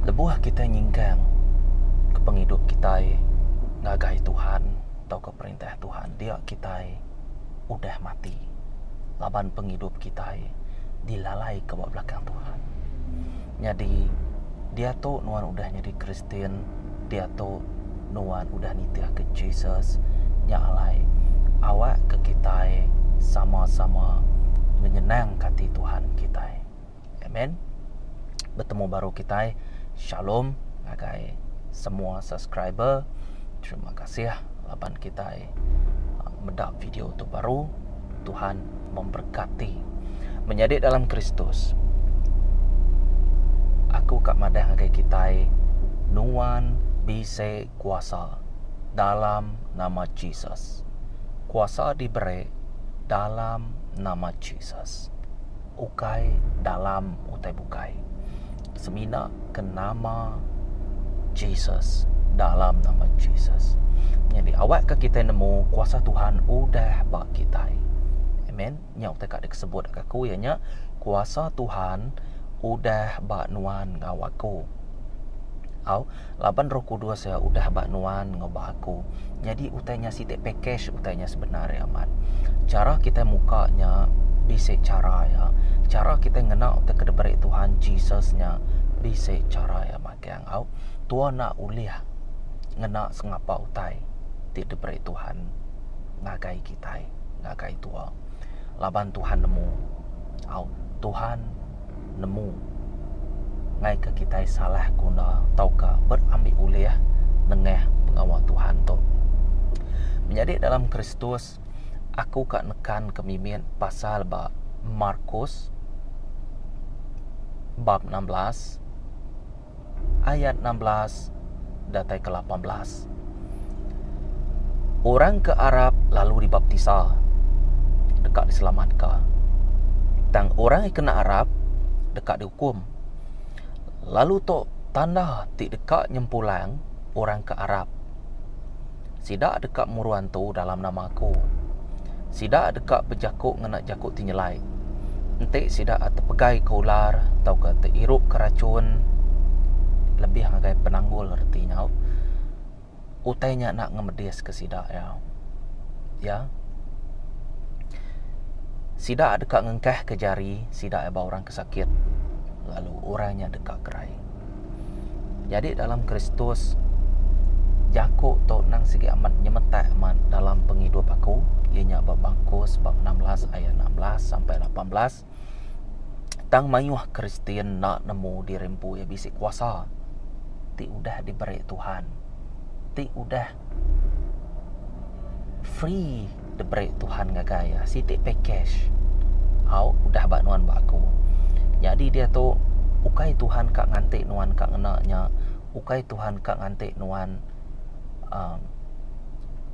Lebuh kitai nyingkang ke pengidup kitai ngagai Tuhan tauka perintah Tuhan dia kitai udah mati laban pengidup kitai dilalaika ba belakang Tuhan. Nyadi diatu nuan udah nyadi Kristian diatu nuan udah nitihka Jesus nya alai awakka kitai sama-sama nyenangka ati Tuhan kitai. Amen. Betemu baru kitai. Shalom ngagai semua subscriber. Terima kasih laban kitai uh, meda video tu baru. Tuhan memberkati. Menyadi dalam Kristus. Aku kak madah ngagai kitai nuan bisi kuasa dalam nama Jesus. Kuasa diberi dalam nama Jesus. Ukai dalam utai bukai. Semina ke nama Jesus dalam nama Jesus. Nyadi awakka kitai nemu kuasa Tuhan udah ba kitai. Amen. Nya utai ka dikesebut ka aku iya nya kuasa Tuhan udah ba nuan enggau aku. Au. Laban Roh Kudus iya udah ba nuan enggau ba aku. Nyadi utai nya siti package utai nya sebenar iya amat. Chara kitai muka nya bisi chara iya. Chara kitai ngena utai ke diberi Tuhan Jesus nya bisi chara iya amat iya enggau tua enda ulih ngena sengapa utai ti diberi Tuhan ngagai kitai ngagai tua. Laban Tuhan nemu au Tuhan. nemu ngaika kitai salah guna tauka berambi ulih nengah pengawa Tuhan tu. Menyadi dalam Kristus, aku ka nekanka mimit pasal ba Markus bab enam belas ayat enam belas datai ke lapan belas. Orang ke arap lalu dibaptisa deka diselamatka. Tang orang ke kena arap deka diukum. Lalu tu tanda ti deka nyempulang orang ke arap. Sida deka murun antu dalam nama Aku. Sida deka bejaku ngena jaku ti nyelai. Enti sida tepegaika ular tauka teirupka rachun lebih ngagai penanggul reti nya, utai nya enda ngemediska sida iya. Iya. Sida deka ngengkahka jari sida iya ba orang ke sakit, lalu orang nya deka kerai. Jadi dalam Kristus jaku tu endang sigi amat nyemetak amat dalam pengidup aku iya nya ba Markus bab enam belas ayat enam belas sampai lapan belas tang mayuh Kristian enda nemu diri empu iya bisi kuasa ti udah diberi Tuhan ti udah Free the break Tuhan ngagai iya siti package. Au udah ba nuan ba aku. Nyadi diatu ukai Tuhan ka nganti nuan ka ngena nya, ukai Tuhan ka nganti nuan aaa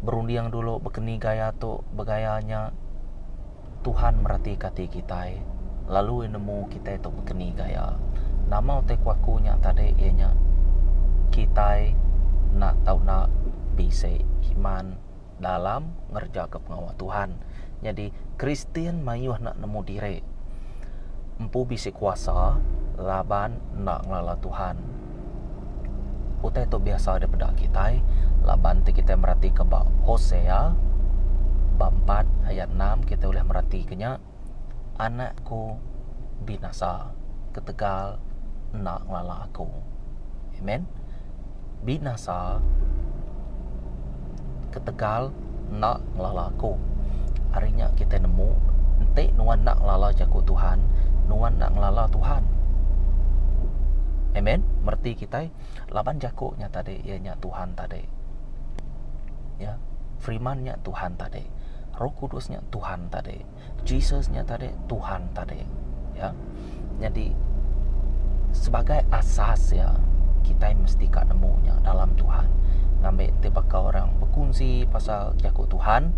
berunding dulu baka ni gaya tu, beragaya nya. Tuhan meratika ati kitai lalu Iya nemu kitai tu bekeni enggau Iya. Nama utai ku aku nya tadi iya nya kitai enda tau enda bisi iman dalam ngerejakan pengawa Tuhan. Nyadi Kristian mayuh enda nemu diri empu bisi kuasa laban enda ngelala Tuhan. Utai tu biasa dipeda kitai laban ti kitai meratika ba Hosea bab empat ayat enam kitai ulih meratika nya anakku binasa ketegal enda ngelala aku. Amen. Binasa. ketegal enda ngelala aku. Ari nya kitai nemu enti nuan enda ngelala jaku Tuhan, nuan enda ngelala Tuhan. Amen. Mereti kitai laban jaku nya tadi iya nya Tuhan tadi. Ya. Firman nya Tuhan tadi. Roh Kudus nya Tuhan tadi. Jesus nya tadi Tuhan tadi. Ya. Nyadi sebagai asas ya kita mesti ka nemu nya dalam Tuhan. Ngambi ti baka orang bekunsi pasal jaku Tuhan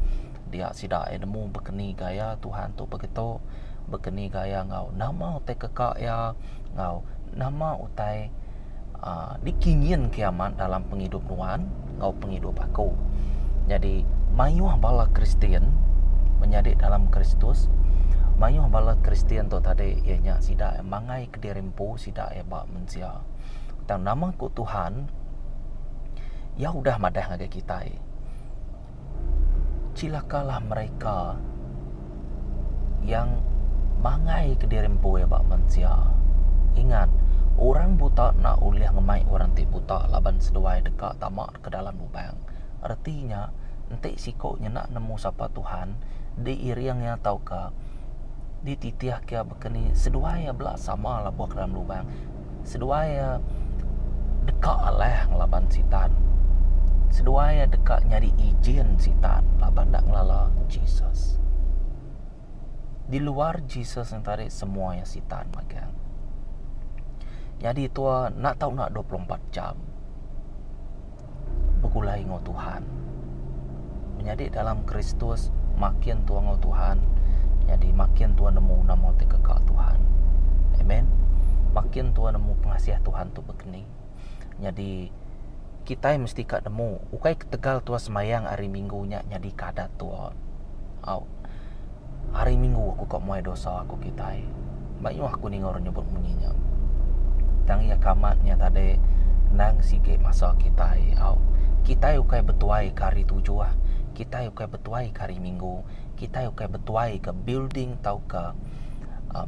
dia sida iya nemu bekeni gaya Tuhan tu begitu bekeni gaya enggau nama utai keka iya enggau nama utai dikingin ke amat dalam pengidup nuan enggau pengidup aku. Nyadi mayuh bala Kristian menyadi dalam Kristus, mayuh bala Kristian tu tadi iya nya sida mangai kediri empu sida iya ba mensia. Tang nama ku Tuhan iya udah madah ngagai kitai. Cilakalah mereka yang mangai kediri empu iya ba mensia. Ingat, orang buta enda ulih ngemai orang ti buta laban seduai deka tama ke dalam lubang. Reti nya, enti siku nyenda nemu sapa Tuhan, diiring iya tauka dititihka Ke ni seduai iya bela sama lebuh ke dalam lubang. Seduai iya deka alah ngelaban Sitan. Seduai iya deka nyadi ijin Sitan laban enda ngelala Jesus. Di luar Jesus nya tadi semua iya Sitan magang. Nyadi tua enda tau na dua puluh empat jam. begulai enggau Tuhan. Menyadi dalam Kristus makin tua enggau Tuhan, nyadi makin tua nemu nama ti kekal Tuhan. Amen. Makin tua nemu pengasih Tuhan tu begeni. Nyadi kitai mesti ka nemu ukai ketegal tua sembayang ari minggu nya nyadi ke adat tua. Au. Hari minggu aku ka muai dosa aku kitai. Mayuh aku ninga orang nyebut munyi nya. Tang iya ka amat nya tadi endang sigi masa kitai au. Kitai ukai betuai ka hari tujuh, kitai ukai betuai ka hari minggu, kitai ukai betuai ka building tauka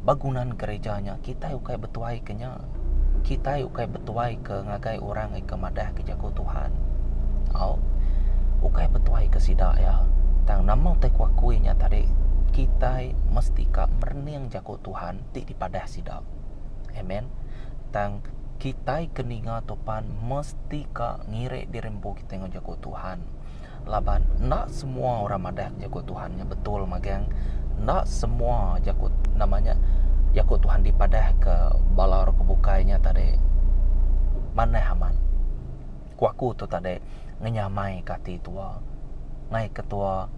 bangunan gereja nya, kitai ukai betuai ka nya. Kitai ukai betuaika ngagai orang ika madahka Jaku Tuhan. Au, ukai betuaika sida iya. Tang nama utai ku akui nya tadi, kitai mesti ka merening Jaku Tuhan ti dipadah sida. Amen. Tang kitai ke ninga tu pan mesti ka ngirik diri empu kitai enggau Jaku Tuhan. Laban enda semua orang madah jaku Tuhan nya betul magang enda semua jaku nama nya jaku Tuhan dipadahka bala orang ke bukai nya tadi manah amat. Ku aku tu tadi ngenyamaika ati tua ngai ketua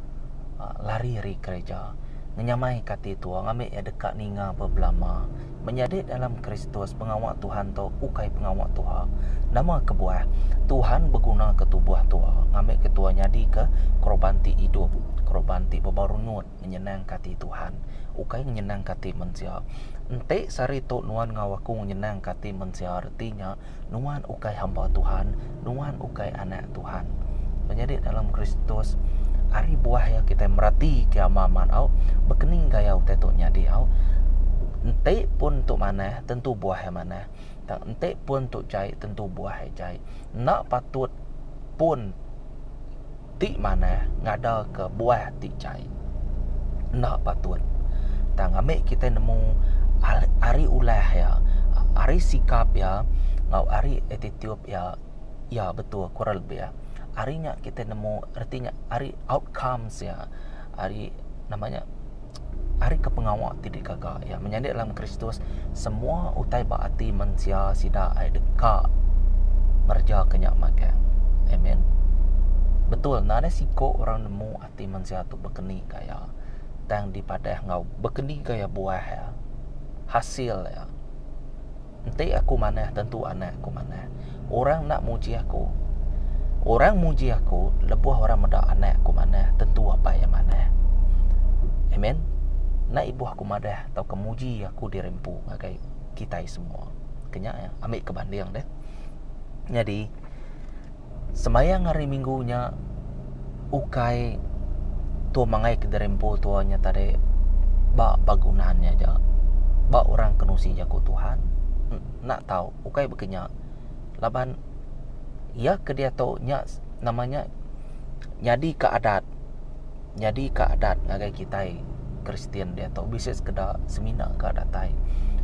lari ari gereja ngenyamaika ati tua ngambi iya deka ninga ba belama. Menyadi dalam Kristus, pengawa Tuhan tu ukai pengawa tuha. Nama kebuah? Tuhan begunaka tubuh tu ngambika tuha nyadika koroban ti idup, koroban ti bebarunut ngenyenangka ati Tuhan, ukai ngenyenangka ati mensia. Enti sehari tu nuan enggau aku ngenyenangka ati mensia reti nya, Nuan ukai hamba Tuhan, nuan ukai anak Tuhan. Menyadi dalam Kristus, ari buah ya kita merati ke ama amat au, bekening gaya utai tu nyadi au. Enti pun tu manah, tentu buah ya manah. Tang enti pun tu jai, tentu buah ya jai. Enda patut pun. ti manah ngadaka buah ti jai. Enda patut tang ami kitai nemu ari ulah iya, ari sikap iya enggau ari attitude iya, iya betul kurang lebih ari nya kitai nemu reti nya ari outcomes iya ari nama nya. Ari ke pengawa ti digaga iya menyadi dalam Kristus semua utai ba ati mensia sida ai deka ngereja ke nya magang. Amen. Betul ne nadai siku orang nemu ati mensia tu bekeni ka iya tang dipadah enggau bekeni ka iya buah iya, hasil iya. Enti Aku manah, tentu anak Aku manah. Orang enda muji Aku. Orang muji Aku lebuh orang meda anak Aku manah, tentu Apai iya manah. Amen. Enda ibuh Aku madah tauka muji Aku diri empu ngagai kitai semua. Kenya iya. Ambika banding deh. Nyadi Semayang hari minggu nya ukai tu mangai kediri empu tua nya tadi ba bagunan nya aja ba orang ke nusi jaku Tuhan enda tau ukai baka nya laban iya ke diatu nya nama nya nyadi ke adat. nyadi ka adat ngagai kitai Kristian diatu bisi sekeda semina ka datai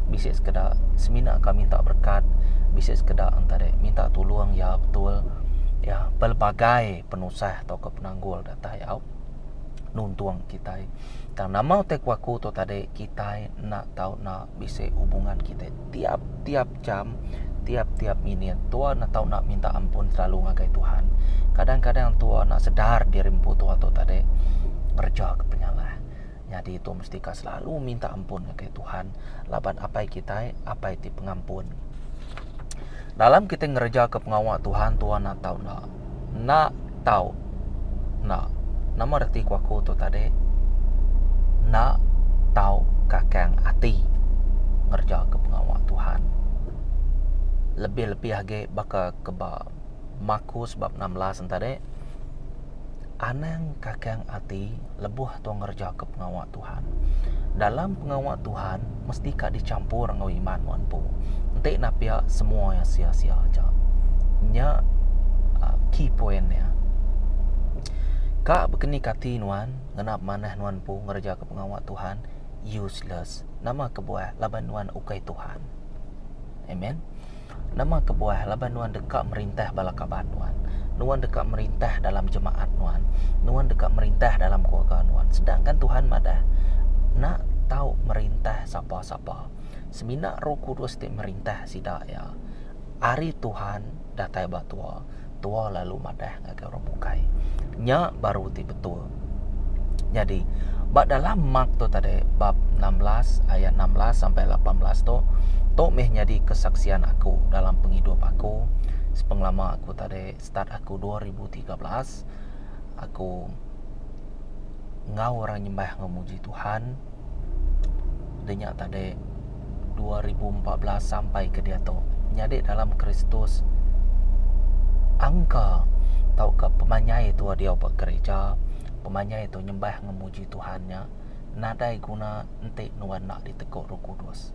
bisi sekeda semina ka minta berkat bisi sekeda enta deh minta tulung iya betul iya pelbagai penusah atau ka penanggul datai au nuntung kitai tang nama utai ku aku tu tadi kitai enda tau na bisi hubungan kitai tiap-tiap Macam tiap-tiap minit tua enda tau nak minta ampun selalu ngagai Tuhan. Kadang-kadang tua enda sedar diri empu tua tu tadi ngereja ke penyalah. Nyadi tua mesti ka selalu minta ampun ngagai Tuhan laban Apai kitai, Apai ti pengampun. Dalam kitai ngereja ke pengawa Tuhan, tua enda tau enda. Enda tau. Enda. Nama reti ku aku tu tadi. Enda tau kakang ati ngereja ke pengawa Tuhan. Lebih-lebih agi baka ke ba Markus bab enam belas en tadi, anang kakang ati lebuh tau ngereja ke pengawa Tuhan. Tuhan. Dalam pengawa Tuhan mesti ka dichampur enggau iman enggau empu. Enti nah pia semua iya sia-sia aja. Nya uh, key point dia. Ka bekenik ati nuan ngena manah nuan empu ngereja ke pengawa Tuhan useless. Nama kebuah laban nuan ukai Tuhan. Amen. Nama kebuah laban nuan deka merintah bala kaban nuan? Nuan deka merintah dalam jemaat nuan. Nuan deka merintah dalam keluarga nuan. Sedangkan Tuhan madah, Enda tau merintah sapa-sapa. Semina Roh Kudus ti merintah sida iya. Ari Tuhan datai ba tua. tua lalu madah ngagai orang bukai. Nya baru ti betul. Nyadi ba dalam mark tu tadi bab 16 ayat 16 sampai 18 tu tu meh nyadi kesaksian aku dalam pengidup aku sepengelama aku tadi start aku 2013 aku enggau orang nyembah enggau muji Tuhan. Deh nya tadi dua ribu empat belas sampai ke diatu nyadi dalam Kristus angka tauka pemanyai tu diau ba gereja pemanyai tu nyembah ngemuji Tuhan nya nadai guna enti nuan enda diteguk Roh Kudus.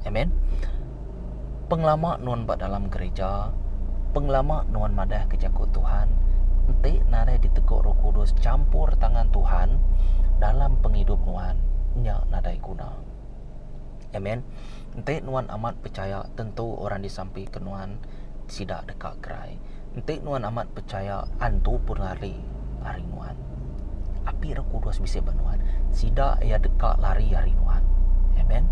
Amen. Pengelama nuan ba dalam gerija, pengelama nuan madahka jaku Tuhan, enti nadai diteguk Roh Kudus champur tangan Tuhan dalam pengidup nuan, nya nadai guna. Amen. Enti nuan amat pechaya tentu orang disampika nuan sida deka gerai. Enti nuan amat pechaya antu pun lari ari nuan. Api ra kudus bisi ba nuan, sida iya deka lari ari nuan. Amen.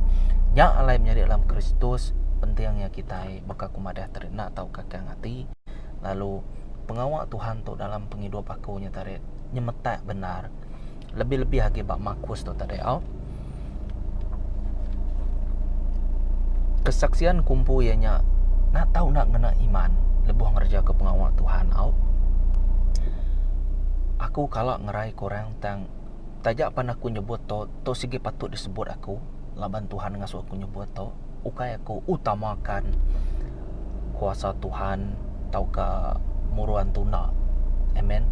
Nya alai menyadi dalam Kristus penting iya kitai baka ku madah tadi enda tau kakang ati lalu pengawa Tuhan tu dalam pengidup aku nya tadi nyemetak bendar. Lebih-lebih agi ba Marcos tu tadi au. Kesaksian ke empu iya nya enda tau enda ngena iman lebuh ngerejaka pengawa Tuhan au. Aku kala ngerai ke orang tang taja pan aku nyebut tu, tu sigi patut disebut aku laban Tuhan ngasu aku nyebut tu. ukai aku utamakan kuasa Tuhan tauka muruan tuna. Amen.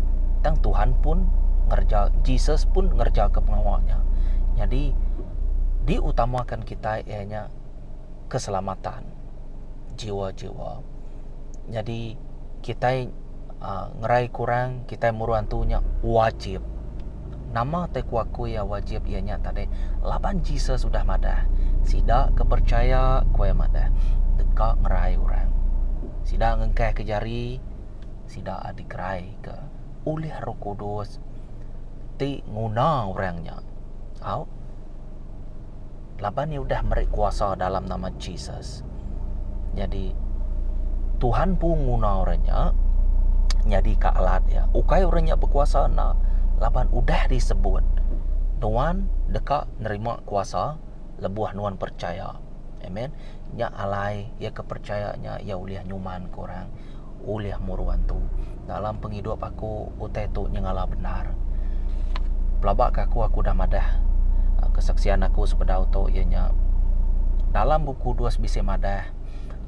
Tang Tuhan pun ngereja Jesus pun ngereja ke pengawa nya. Nyadi diutamakan kitai iya nya keselamatan jiwa-jiwa. Nyadi kitai aaa ngerai kurang kitai muruan tu nya wajib. Nama utai ku aku iya wajib iya nya tadi laban Jesus udah madah, Sida ke percaya aku iya madah deka ngerai orang. Sida ngengkahka jari sida dikeraika ulih Roh Kudus ti nguna orang nya. Au. laban iya udah meri kuasa dalam nama Jesus. Nyadi Tuhan pun nguna orang nya nyadi ka alat iya. Ukai orang nya bekuasa enda laban udah disebut nuan deka nerima kuasa lebuh nuan percaya. Amen. Nya alai iya ke percaya nya iya ulih nyuman ke orang. ulih muruan tu. Dalam pengidup aku utai tu nyengala bendar. Pelaba ke aku aku udah madah kesaksian aku sebedau tu iya nya dalam bup kudus bisi madah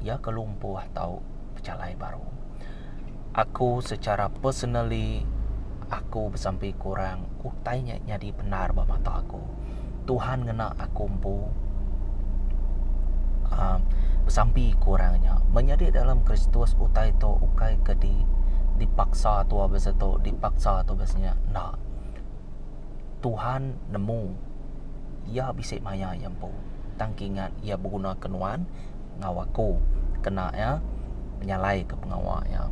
iya ke lumpuh tau pechalai baru. Aku secara personally aku besampi iku orang utai nya nyadi bendar ba mata aku. Tuhan ngena aku empu uh, besampi ku orang nya. Menyadi dalam Kristus utai tu ukai ke di dipaksa tu besa tu, dipaksa tu besa nya. Enda. Tuhan nemu iya bisi maya iya empu. Tang ke ingat iya begunaka nuan enggau aku kena iya menyalai ke pengawa iya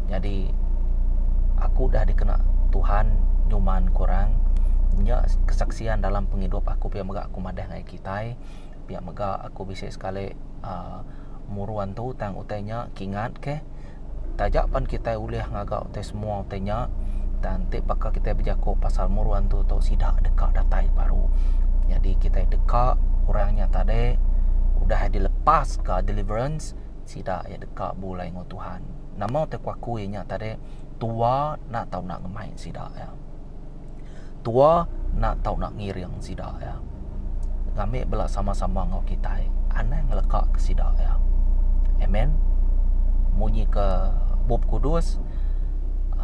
nyadi aku udah dikena Tuhan nyuman ku orang nya kesaksian dalam pengidup aku pia mega aku madah ngagai kitai pia mega aku bisi sekali muru antu tang utai nya kingat keh. Taja pan kitai ulih ngaga utai semua utai nya dan ti baka kitai bejaku pasal muru antu tu sida deka datai baru. Nyadi kitai deka orang nya tadi udah dilepaska deliverance sida iya deka bulai enggau Tuhan. Nama utai kuaku iya nya tadi tua enda tau enda ngemai sida iya. Tua enda tau nak ngiring sida iya. Ngambika bala sama-sama enggau kitai anang ngeleka ke sida iya. Amen. Munyi ke Bup Kudus,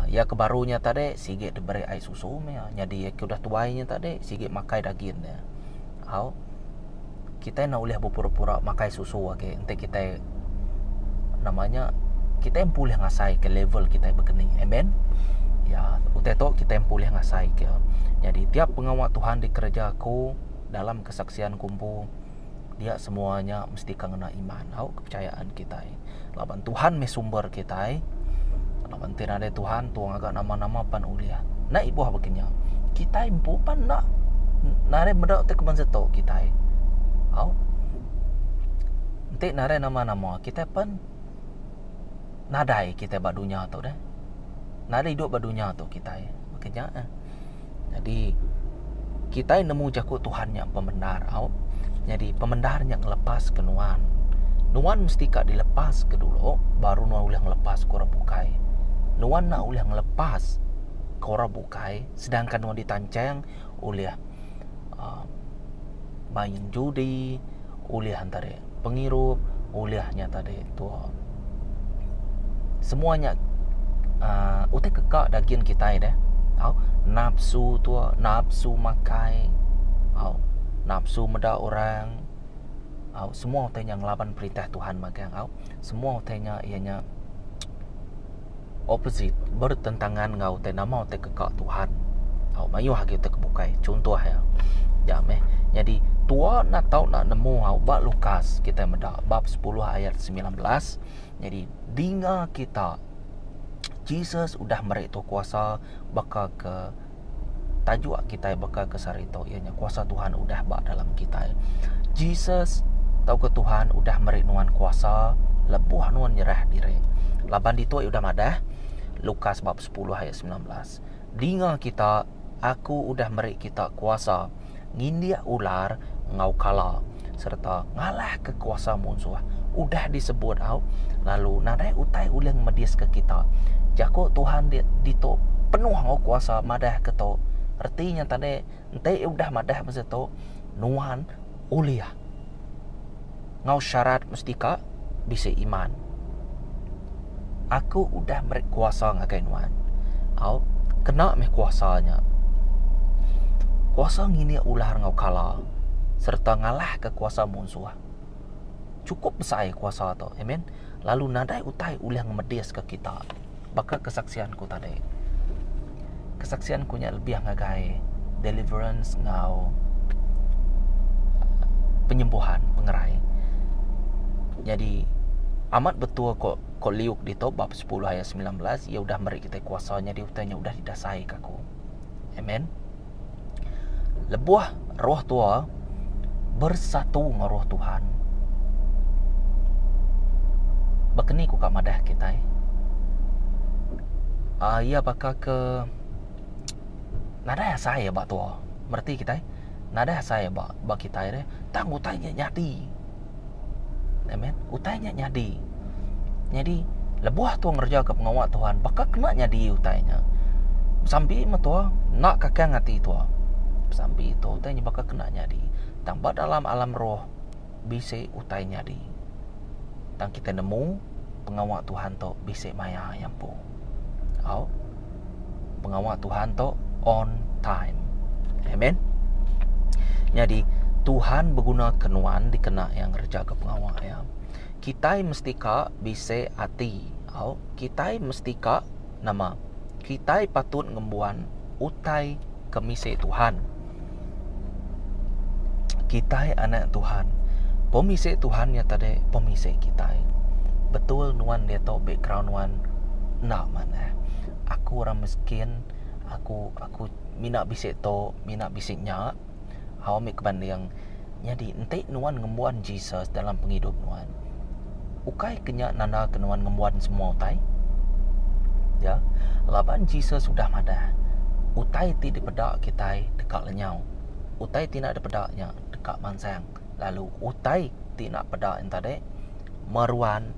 Iya ke baru nya tadi sigi diberi ai susu meh iya. Nyadi iya ke udah tuai nya tadi sigi makai dagin iya. Au. Kitai enda ulih bepura-pura makai susu agi enti kitai nama nya kitai empu ulih ngasaika level kitai begeni. Amen. Ya, utai tu kitai empu ulih ngasaika. Nyadi tiap pengawa Tuhan dikereja aku dalam kesaksian ku empu dia semua nya mesti ke ngena iman au kepercayaan kitai. Laban Tuhan meh sumber kitai. Laban ti nadai Tuhan tu ngaga nama-nama pan ulih. Enda ibuh baka nya. Kitai empu pan enda nadai meda ti keman setu kitai. Au. Enti nadai nama-nama kitai pan nadai kitai ba dunya tu deh. Nadai idup ba dunya tu kitai. Baka nya eh. Nyadi kitai nemu jaku Tuhan nya pemendar au. Nyadi pemendar nya ngelepaska nuan. Nuan mesti ka dilepaska dulu baru nuan ulih ngelepaska orang bukai. Nuan enda ulih ngelepaska orang bukai sedangkan nuan ditancheng ulih aaa main judi, ulih antara pengirup ulih nya tadi tu semua nya uh, utai keka daging kitai deh. Au, nafsu tu, nafsu makai. Au, nafsu meda orang. Au, semua utai nya ngelaban perintah Tuhan magang. Au, semua utai nya iya nya opposite, bertentangan enggau utai nama utai ke ka Tuhan. Au mayuh agi utai ke bukai. Chuntuh iya. Ya meh. Nyadi tua enda tau enda nemu au ba Lukas kita meda bab 10 ayat 19. Nyadi dinga kita Jesus udah meri tu kuasa baka ke tajuk kitai baka ke sehari tu iya nya kuasa Tuhan udah ba dalam kitai. Jesus tauka Tuhan udah meri nuan kuasa lebuh nuan nyerah diri. Laban ditu iya udah madah Lukas bab 10 ayat 19. Dinga kita, aku udah meri kita kuasa ngindik ular enggau kala sereta ngalahka kuasa munsuh udah disebut au lalu nadai utai ulih ngemediska kita. Jaku Tuhan di, ditu penuh enggau kuasa madah ke tu. Reti nya tadi enti udah madah besi tu nuan ulih ngau syarat mesti ka bisi iman. Aku udah meri kuasa ngagai nuan. Au, kena meh kuasa nya. Kuasa nginik ular ngau kala sereta ngalahka kuasa munsuh. Chukup besai kuasa tu. Amen. Lalu nadai utai ulih ngemediska kita. Baka kesaksian ku tadi, kesaksian ku nya lebih ngagai deliverance enggau penyembuhan pengerai. Nyadi amat betul ko ko Luke ditu bab sepuluh ayat semilan belas, iya udah meri kitai kuasa nyadi utai nya udah didasai ka aku. Amen. Lebuh roh tua bersatu enggau roh Tuhan. Baka ni ku ka madah kitai. Uh, ia baka ke nadai asai ia ba tua. Mereti kitai? Nadai asai ia ba, ba kitai deh. Tang utai nya nyadi. Amen. Utai nya nyadi. Nyadi lebuh tua ngerejaka pengawa Tuhan, baka kena nyadi utai nya. Besambi me tua enda kakang ati tua. Besambi tu utai nya baka kena nyadi. Tang ba dalam alam roh bisi utai nyadi. Tang kitai nemu pengawa Tuhan tu bisi maya iya empu. Au. Pengawa Tuhan tu on time. Amen. Nyadi Tuhan begunaka nuan dikena iya ngerejaga pengawa iya. Kitai mesti ka bisi ati. Au. Kitai mesti ka nama? Kitai patut ngembuan utai ke misi Tuhan. kitai anak Tuhan. Pemisi Tuhan nya tadi pemisi kitai. Betul nuan diatu background nuan enda manah. Aku orang miskin, aku aku mina bisi tu, mina bisi nya. Au ambi kebanding. Nyadi enti nuan ngembuan Jesus dalam pengidup nuan, Ukai ke nya nandaka nuan ngembuan semua utai? Ya, laban Jesus udah madah, utai ti dipeda kitai deka lenyau. Utai ti enda dipeda nya deka mansang, lalu utai ti enda peda yen tadi meruan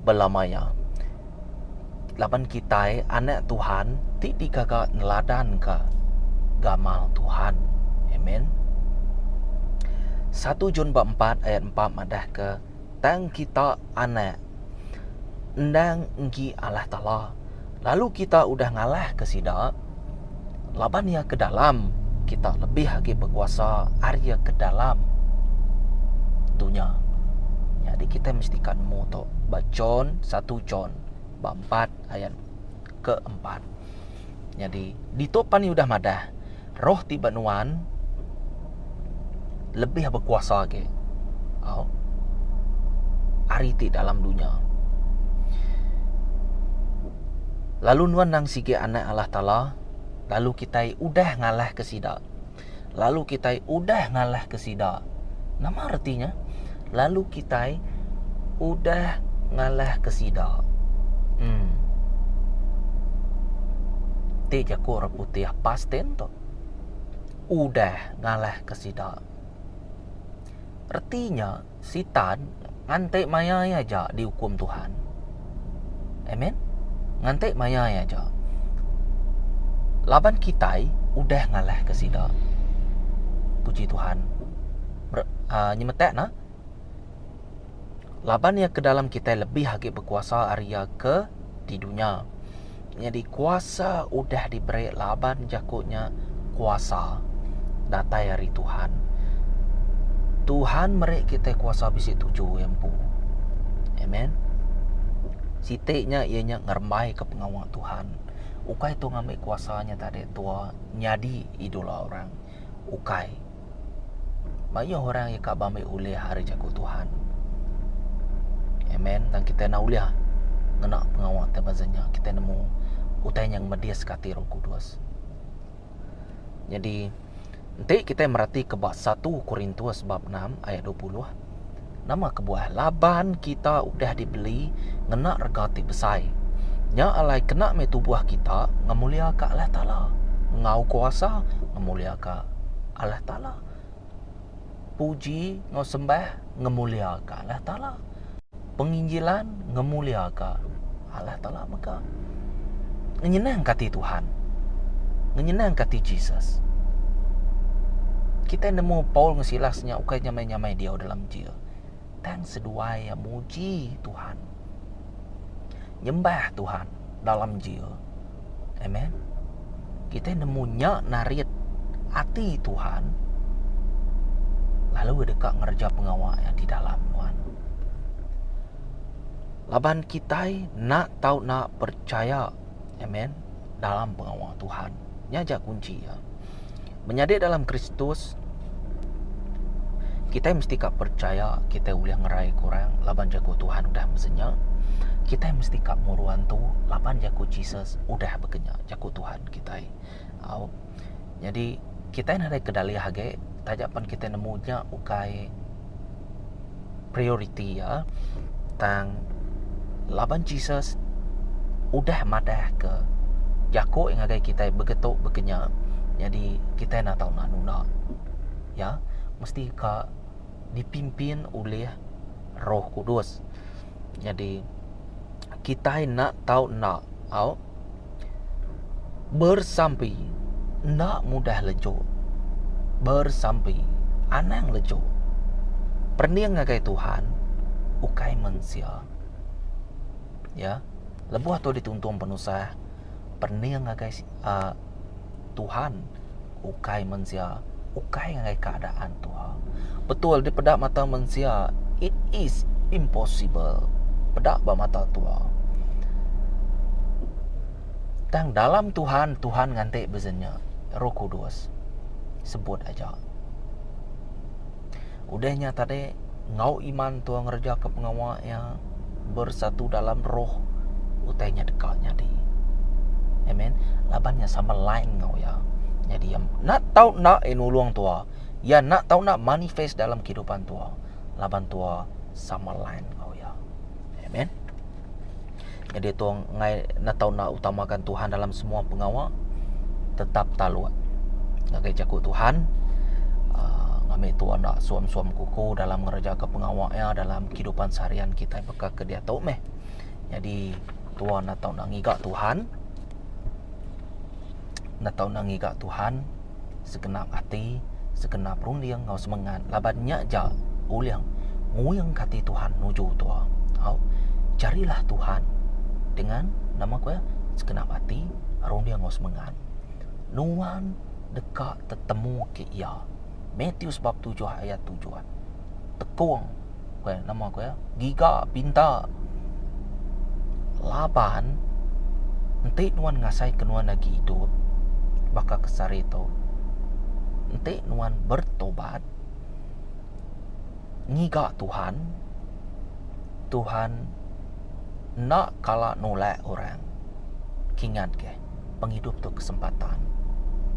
bela maya. laban kitai anak Tuhan ti digaga neladanka gamal Tuhan. Amen. 1 John bab 4 ayat 4 madahka, Tang kita anak endang enggi Allah Taala, lalu kita udah ngalahka sida, Laban Iya ke dalam, kita lebih agi bekuasa ari iya ke dalam dunya. Nyadi kita mesti ka nemu tu ba John 1 John ba 4 ayat ke 4. Nyadi ditu pan iya udah madah, Roh ti ba nuan, lebih bekuasa agi au ari ti dalam dunya. Lalu nuan nang sigi anak Allah Taala, lalu kitai udah ngalahka sida. Lalu kitai udah ngalahka sida. Nama reti nya? Lalu kitai udah ngalahka sida. Hmm. Ti jaku orang putih past tense tu. udah ngalahka sida. Reti nya, Sitan nganti mayai aja diukum Tuhan. Amen. Nganti mayai aja. Laban kitai udah ngalahka sida. Puji Tuhan. Uh, nyemetak nah. laban iya ke dalam kitai lebih agi bekuasa ari iya ke di dunya. Nyadi kuasa udah diberi laban jaku nya kuasa datai ari Tuhan. Tuhan meri kitai kuasa bisi tuju iya empu. Amen. Siti nya iya nya ngerembaika pengawa Tuhan. Ukai tu ngambi kuasa nya tadi tua nyadi idola orang. Ukai. Mayuh orang iya kaba meh ulih ari jaku Tuhan. Amen. Dan kita enda ulih ngena pengawa ti beza nya. Kita nemu utai nya ngmediska ati Roh Kudus. Nyadi enti kita meratika ba 1 Korintus bab 6 ayat 20. Nama kebuah laban kita udah dibeli ngena rega ti besai. Nya alai kena meh tubuh kita ngemuliaka Allah Taala enggau kuasa ngemuliaka Allah Taala. Puji enggau sembah ngemuliaka Allah Taala. penginjilan ngemuliaka Allah Taala mega ngenyenangka ati Tuhan, ngenyenangka ati Jesus. Kitai nemu Paul enggau Silas nya ukai nyamai-nyamai diau dalam jail, tang seduai iya muji Tuhan, nyembah Tuhan dalam jail. Amen. Kita nemu nya narit ati Tuhan lalu deka ngereja pengawa yang di dalam Tuhan. Laban kita nak tau nak percaya. Amen. Dalam pengawa Tuhan. Nya ja kunci ya. Menyadi dalam Kristus, kitai mesti ka percaya kitai ulih ngerai ke orang laban jaku Tuhan udah mesen nya. Kitai mesti ka muruan tu laban jaku Jesus udah beken nya, jaku Tuhan kitai. Au. Nyadi kitai nadai kedalih agi taja pen kitai nemu nya ukai prioriti iya tang laban Jesus udah madahka jaku ngagai kitai begitu begenya nyadi kitai enda tau nemu guna iya mesti ka dipimpin oleh roh kudus nyadi kitai enda tau enda au Bersampi enda mudah lejok. Bersampi anang lejok. Perening ngagai Tuhan ukai mensia. Ya. Lebuh tu dituntung penusah perening ngagai a. Tuhan ukai mensia, ukai ngagai keadaan tuha. Betul dipeda mata mensia it is impossible peda ba mata tuha. Tang dalam Tuhan, Tuhan nganti bezenyek. Roh Kudus sebut aja. Udah nya tadi, enggau iman tua ngerejaka pengawa iya bersatu dalam roh, utai nya deka nyadi. Amen. Laban nya sama lain enggau iya. Nyadi iya nak tau nak iya nulung tua. Iya nak tau nak manifest dalam kehidupan tua. Laban tua sama lain enggau iya. Amen. Jadi tu ngai na tau na utamakan Tuhan dalam semua pengawa tetap taluk ngagai jaku Tuhan ah, ngambil tu anak suam-suam kuku dalam ngereja ke pengawa ya dalam kehidupan seharian kita beka ke dia tu meh. Jadi tuan atau nak ngiga Tuhan enda tau enda ngiga Tuhan segenap ati segenap runding enggau semengat laban nya ja ulih nguing ka ati Tuhan nuju tua tau carilah Tuhan dengan nama kuwi segenap ati runding enggau semengat nuan deka tetemu ke iya Mathew bab tujuh ayat tujuh tekong. Ku iya, nama ku iya? Giga, pinta. Laban enti nuan ngasaika nuan agi idup baka ke sehari tu, enti nuan bertobat, ngiga Tuhan, Tuhan enda kala nulak orang kingatke. pengidup tu kesempatan.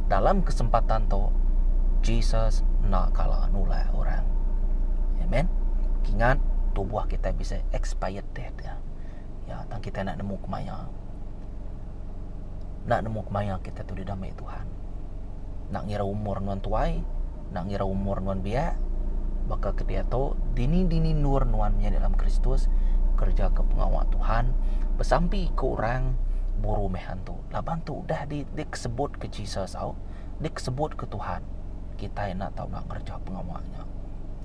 Dalam kesempatan tu, Jesus enda kala nulak orang. Amen. Kingat tubuh kita bisa expired death ya. Ya, tang kita nak nemu kemaya. Nak nemu kemaya kita tu didamai Tuhan. Nak ngira umur nuan tuai, enda ngira umur nuan biak, baka ke diatu, dini-dini endur nuan menyadi dalam Kristus, ngereja-Ka pengawa Tuhan, besampi ke orang buru meh antu. Laban tu udah di dikesebut ke Jesus au, dikesebut ke Tuhan, kitai enda tau enda ngereja pengawa nya.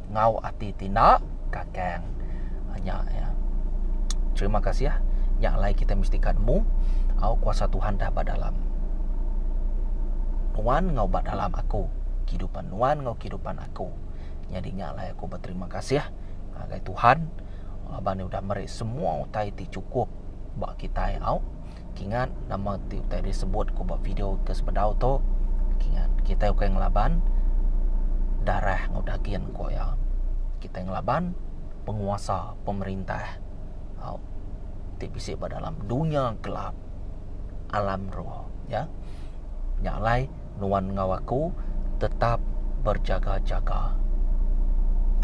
Enggau ati ti enda, ka Kan. Nya ya. Terima kasih ah. Nya alai kita mesti ka nemu au kuasa Tuhan dah ba dalam nuan enggau ba dalam aku, kehidupan nuan enggau kehidupan aku. Nyadi nya alai aku beterima kasih ngagai Tuhan laban iya udah meri semua utai ti chukup ba kitai au Kingat nama ti utai disebut ku ba video ke sebedau tu kingat kitai ukai ngelaban darah enggau dagin ku iya kitai ngelaban penguasa pemerintah au ti bisi ba dalam dunya gelap alam roh ya nya alai nuan enggau aku tetap berjaga-jaga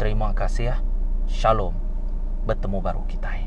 terima kasih shalom betemu baru kitai.